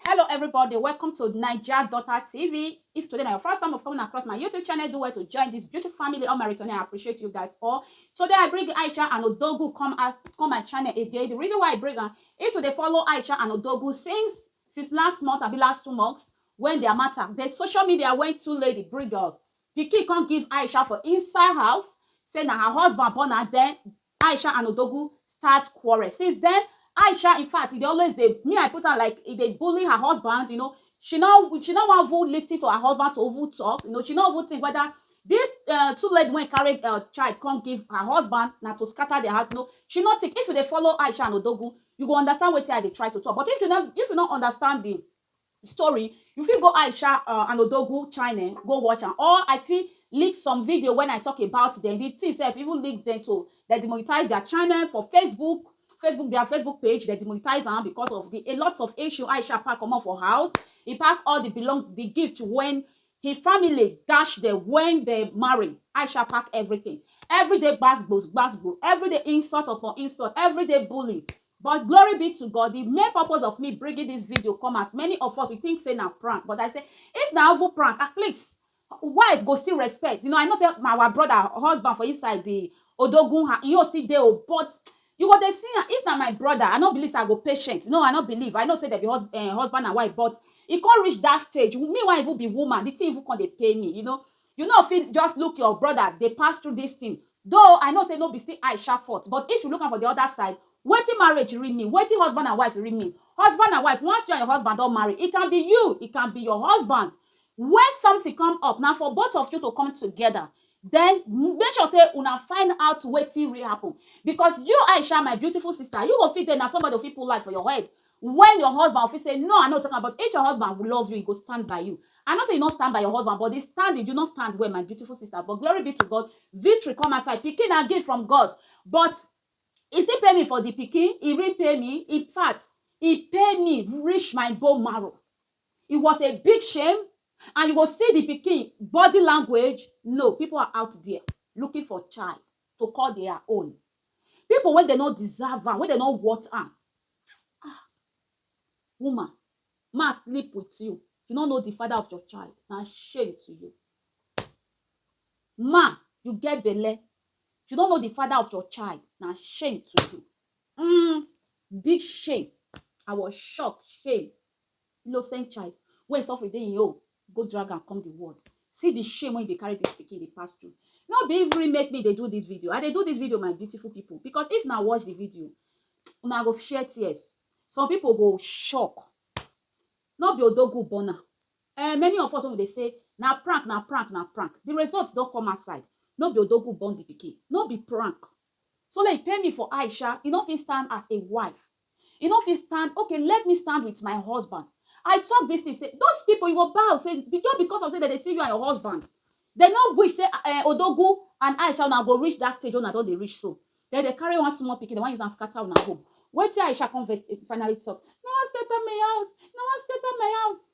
Hello everybody, welcome to Naija Daughter TV. If today na your first time of coming across my YouTube channel, do well to join this beautiful family. All my returning, I appreciate you guys all. Today I bring Aisha and Odogu come as come my channel again. The reason why I bring am, if you dey follow Aisha and Odogu since since last month, abi last two months, when their matter, the social media went too late, the bring up. Pikin come give Aisha for inside house, say na her husband born her, then Aisha and Odogwu start quarrel since then Aisha in fact e dey always dey me I put am like e dey bully her husband you know she no she no wan even listen to her husband to even talk you know she no even think whether this um two lady wey carry um child come give her husband na to scatter their house you know she no think if you dey follow Aisha and Odogwu you go understand wetin I dey try to talk but if you no if you no understand the story you fit go Aisha uh, and Odogwu channel eh, go watch am or I fit leak some video when I talk about them the thing sef even leak them to dem demonetize their channel for Facebook Facebook their Facebook page dem demonetize am because of the a lot of issue Aisha pack comot for house he pack all the belong the gift when his family dash them when they marry Aisha pack everything everyday gbasgbos gbasgbo everyday insult upon insult everyday bully But glory be to God, the main purpose of me bringing this video come as many of us, we think say na prank, but I say, if na even prank, at least wife go still respect, you know, I know say my our brother, husband for inside the odogun, ha, he own still dey o, but you go dey see am, if na my brother, I no believe say I go patient, no, I no believe, I know say dem be hus, um husband and wife, but e come reach that stage, me wen even be woman, the thing even come dey pain me, you know, you no fit just look your brother dey pass through this thing, Though I know say no be still eye sharp fourth but if you look am for the other side wetin marriage really mean wetin husband and wife really mean husband and wife once you and your husband don marry it can be you it can be your husband when something come up na for both of you to come together then make sure say una find out wetin really happen because you Aisha my beautiful sister you go fit dey na somebody go fit put light for your head When your husband fit say no i no take am but if your husband love you he go stand by you i know say you no stand by your husband but the standing you no stand well my beautiful sister but glory be to God victory come outside pikin na gift from God but he still pay me for the pikin he repay me infact he pay me reach my bone marrow it was a big shame and you go see the pikin body language no people are out there looking for child to call their own people wey dem no deserve am wey dem no worth am ah woman ma sleep with you you no know the father of your child na shame to you ma you get belle you no know the father of your child na shame to you mm, big shame i was shocked shame innocent child wey suffering dey im own go drag am come the world see the shame wey dey carry this pikin dey pass through no be every make me dey do this video i dey do this video my beautiful people because if na watch the video una go share tears some people go shock no be odogu burner eh many of us wey we dey say na prank na prank na prank the result don come outside no be odogu burn the pikin no be prank so like pay me for aisha e no fit stand as a wife E no fit stand, okay let me stand with my husband. I talk this thing say those people you go bow say just because of say dem dey see you and your husband dem no wish say um Odogwu and Aisha una go reach that stage wey una don dey reach so. Then dem carry one small pikin dem wan use am scatter una home. Wetin Aisha come finally talk, una wan scatter my house, una wan scatter my house.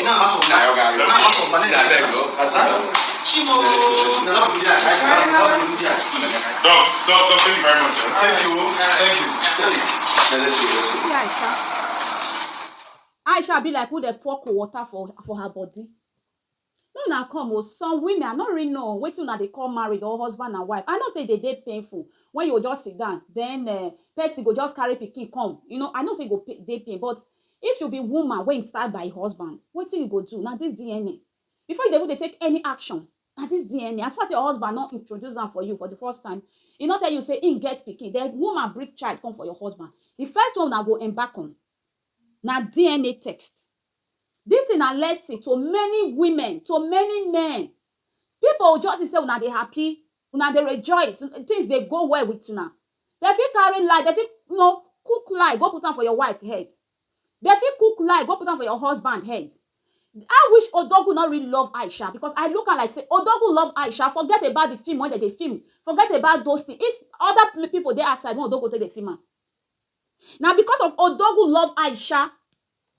Ina maso na. Ayo ga yo. Na maso na ne. Abeg o. Asa. Chimo. Na na bi ya. Na na bi ya. Doc, doc, doc, thank you very much. sir. Thank you. Thank you. Hey. Let's go. Let's go. See Aisha. Aisha be like who dey pour cold water for for her body. No na come o, some women I no really know wetin una dey call married or husband and wife. I know say e dey dey painful when you go just sit down then uh, person go just carry pikin come. You know, I know say e go pa- dey pain but If you be woman wey im stab by husband, wetin you go do? Na dis DNA. Before you dey even dey take any action, na dis DNA. As far as your husband no introduce am for you for di first time, e no tell you say im get pikin, den woman bring child come for your husband, di first one una go embark on na DNA text. Dis tin na lesson to many women, to many men. Pipo go just see say una dey happy, una dey rejoice, things dey go well with una, dem fit carry lie, dem fit you know cook lie go put am for your wife head, dem fit cook lie go put am for your husband head, I wish Odogwu no really love Aisha because I look am like say Odogwu love Aisha forget about the film wey dem dey film, forget about those things, if other people dey outside wey Odogwu take dey film am, na because of Odogwu love Aisha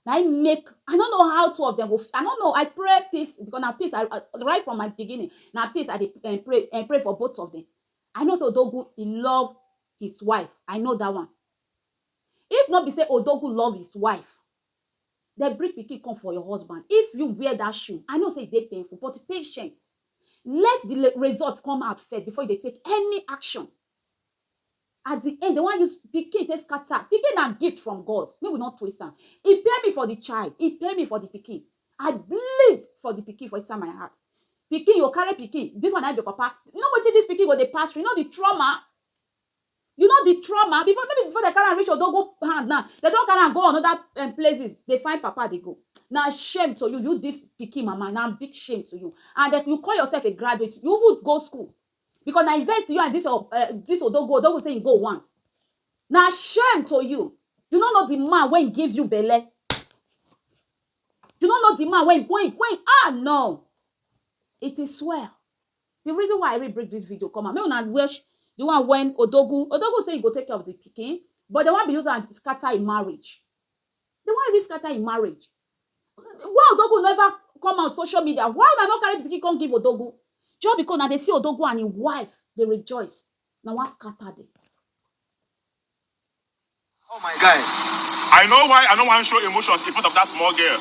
na im make i no know how two of them go i no know i pray peace because na peace i right from my beginning na peace i dey eh, pray eh, pray for both of them i know say odogwu he love his wife i know that one if no be say odogwu love his wife dem bring pikin come for your husband if you wear that shoe i know say e dey painful but patient let the result come out first before you dey take any action At di end, dem wan use pikin take scatter. Pikin na gift from God, make we no twist am. E pay me for di child, e pay me for di pikin. I bleed for di pikin for inside my heart. Pikin, you go carry pikin, dis one na im be your papa. You know wetin dis pikin go dey pass through? You know di trauma? You know di trauma? Before, no be before dem carry am reach Odogwu hand now, dem don carry am go another um places dey find papa dey go. Na shame to you, you dis pikin mama, na big shame to you. And den, you call yourself a graduate, you even go school, Because na invest you and this your um this odogwu odogwu say he go want. Na shame to you. You no know the man wey give you belle. You no know the man wey wey wey ah no. It is well. The reason why I really bring this video come out make una watch the one when odogwu odogwu say he go take care of the pikin but they wan be use am scatter him marriage. Dem wan use scatter im marriage. Why Odogwu never come out social media, why una no carry the pikin come give Odogwu? Just because una dey see Odogwu and im wife dey rejoice, una wan scatter the. Oh my guy, I know why I no wan show emotions in front of that small girl,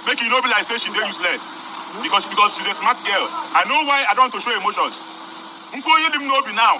make e no be like say she dey useless because because she's a smart girl, I know why I don't want to show emotions, nkwoyi dim n'obi now.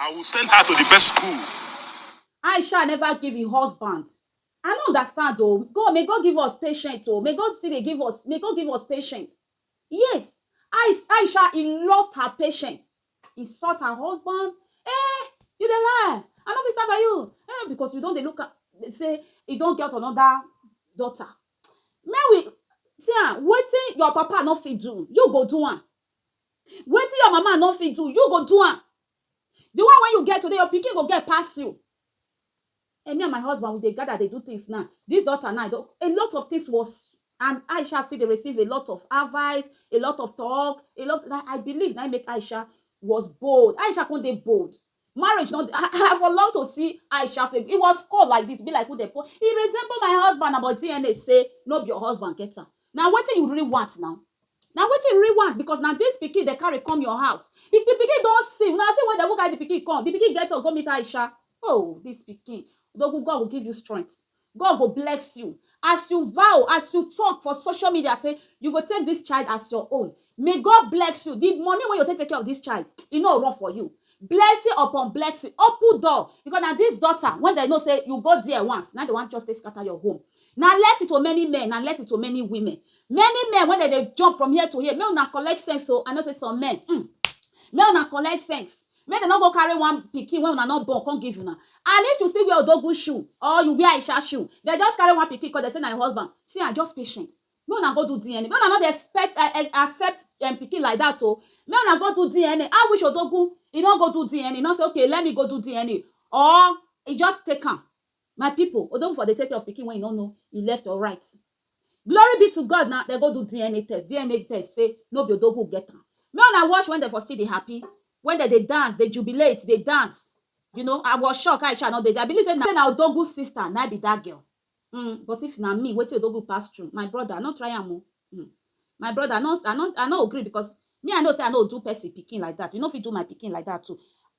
I will send her to the best school. Aisha never give im husband. I no understand o. God may God give us patient o. May God still dey give us may God give us patient. Yes, Ais Aisha he lost her patient. Insult her husband. Eh, you dey lie. I no fit stand by you. Eh, because you don dey look am say e don get another daughter. Make we see am wetin your papa no fit do, you go do am. Wetin your mama no fit do, you go do am. The one wey you get today, your pikin go get pass you. Eh, me and my husband, we dey gather, dey do things now. This daughter now, a lot of things was and Aisha still dey receive a lot of advice, a lot of talk, a lot that I believe na make Aisha was bold. Aisha come dey bold. Marriage no dey I for love to see Aisha face he was call like this be like who dem call he resemble my husband na but DNA say no be your husband get am na wetin you really want now na wetin you really want because na this pikin dem carry come your house if the pikin don see una see where dem even carry the pikin come the pikin get up go meet Aisha oh this pikin Odogwu God go give you strength God go bless you as you vow, as you talk for social media say you go take this child as your own. May God bless you. The money wey you take take care of this child, e no run for you. Blessing upon blessing, open door because na this daughter when they know say you go there once, na they want just take scatter your home. Na lesson to many men, na lesson to many women. Many men when they, they jump from here to here, make una collect sense so I know say some men, mm, make una collect sense. Make dem no go carry one pikin wey una no born come give una and if you still wear odogwu shoe or you wear aisha shoe dem just carry one pikin come dem say na im husband see am just patient make una go do DNA make una no dey expect accept um pikin like that o make una go do DNA I wish odogwu e no go do DNA e no say okay let me go do DNA or e just take am my people odogwu for dey take care of pikin wey e no know e left or right. Glory be to God na dem go do DNA test, DNA test sey no be Odogwu get am. Make una watch when dem for still dey happy, when dem dey dance, dey jubilate, dey dance. You know, I was shocked, how e sha no dey there? I believe sey na na Odogwu sister na im be dat girl. Um but if na me, wetin Odogwu pass through, my brother, no try am o. Um My brother I no I no I no gree because me I know say I no do person pikin like that you no fit do my pikin like that too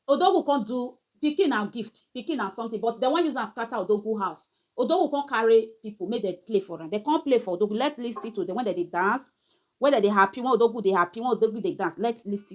Odogwu come do pikin na gift pikin na something but dem wan use am scatter Odogwu house Odogwu come carry people make dem play for am dem come play for Odogwu let listen to dem when dem dey dance when dem dey happy when Odogwu dey happy when Odogwu dey dance let listen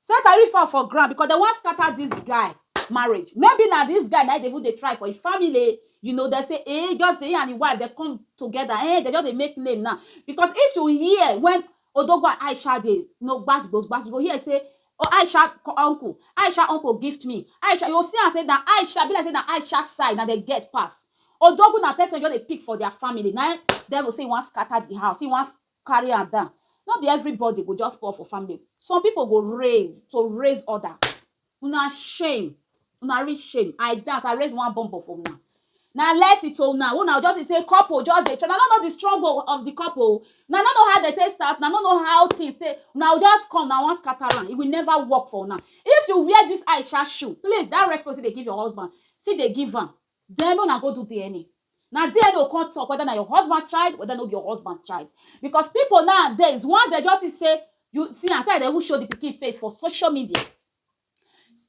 Say Gari fall for ground because dem wan scatter this guy marriage maybe na this guy na him dey even dey try for him family you know dem say eh just dey him and him wife dem come together eh dem just dey make name now because if you hear when Odogwu and Aisha dey you know gbas gbos gbas you go hear say Aisha uncle Aisha uncle gift me Aisha you go see am say na Aisha e be like say na Aisha side na dem get pass Odogwu na person wey just dey pick for their family na him devil say him wan scatter the house him wan Carry am down. No be everybody go just poor for family. Some people go raise to raise others. Una shame. Una reach shame. I dance. I raise one bumbo for una. Na lesson to una. Una just dey say couple just dey try. Una no know the struggle of the couple. Una no know how they take start. Una no know how things take. Una go just come. Una wan scatter am. It will never work for una. If you wear this Aisha shoe, please, that respect still dey give your husband. Still dey give am. Den una go do dna. Na there dey go come talk whether na your husband child, whether no be your husband child. Because people nowadays, once dem just see say you, see am, see as dem even show the pikin face for social media.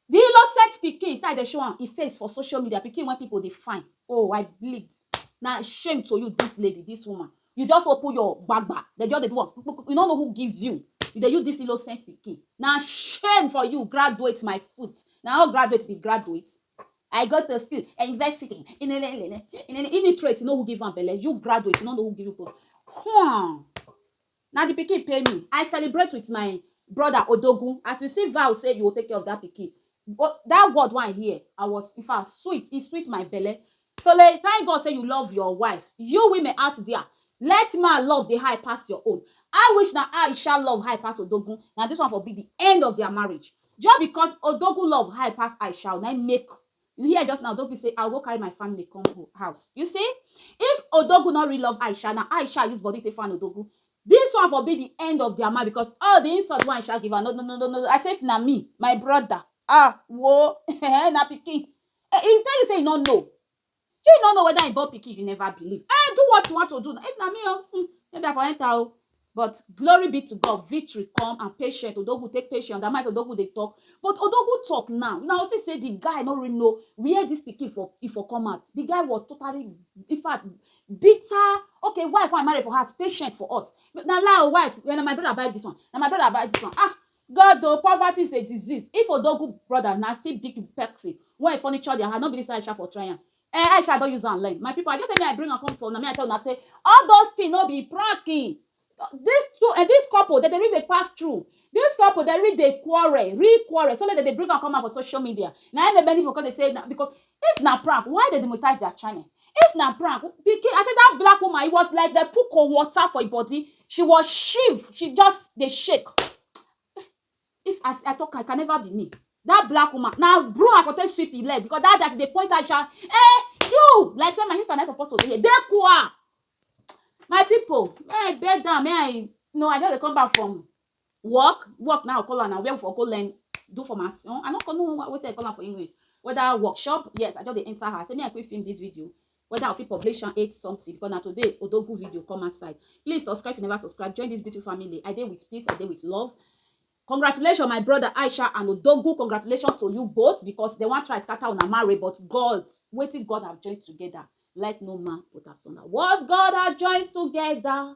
The innocent pikin, see as dem show am im face for social media, pikin wey people dey find. Oh, I bleed. Na shame to you dis lady, dis woman. You just open your gbagba, dem just dey do am kpu kpu kpu, you no know who give you. You dey use dis innocent pikin. Na shame for you, graduate my foot. Na all graduate be graduate? I go to school, university, inenenene, inene, illiterate, you know who give am belle, you graduate, you no know who give you belle. Huh. Na the pikin pay me. I celebrate with my brother Odogun. As you see vow say you go take care of that pikin. But that word wey I hear, I was, in fact, sweet, it sweet my belle. So le thank God say you love your wife. You women out there, let man love dey high pass your own. I wish na Aisha love high pass Odogun, na this one for be the end of their marriage. Just because Odogun love high pass Aisha o, na im make you hear just now Odogun say I will go carry my family come ho house. You see, if Odogun no really love Aisha, na Aisha use body take fan Odogun, this one for be the end of their marriage because all the insult wey Aisha give am, no no no no no, I say if na me, my brother, ah wo, na pikin Eh, he tell you say he no know. He no know whether he born pikin, you never believe. Eh, do what you want to do. If eh, na me, oh, hmm, maybe I for enter. Oh. But glory be to God, victory come and patient. Odogu take patient. That might Odogu they talk. But Odogu talk now. Now see say the guy no really know where this pikin for if for come out. The guy was totally, in fact, bitter. Okay, wife I marry for her, patient for us. Now lie, oh, wife. When my brother buy this one, now my brother buy this one. Ah, God o poverty is a disease if odogwu brother na still big person wey e furniture their hand no be this Aisha for try am eh Aisha I don use am learn my people I just say make I bring am come for una make I tell una say all those thing no be pranking this two eh this couple dem dey really dey pass through this couple dem really dey quarrel real quarrel so tey dem dey bring am come out for social media na him make many people come dey say na because If na prank why dem demonetize their channel if na prank pikin I say that black woman it was like dem put cold water for im body she was shiv she just dey shake if as I talk am it can never be me that black woman na broom I for take sweep im leg because that day as I dey point her she shout eh you like say my sister na im suppose to dey here dey kwa my people may I beg am may I no I just dey come back from work work now call am na where we for go learn do formation i no call no wetin i call am for english whether workshop yes i just dey enter her say me i quick film this video whether i fit publish am eight something because na today odogu video come outside please subscribe if you never subscribe join this beautiful family i dey with peace i dey with love congratulations my brother aisha and odogu congratulations to you both because they wan try scatter una marry but god wetin god have joined together let no man put asunder what god has joined together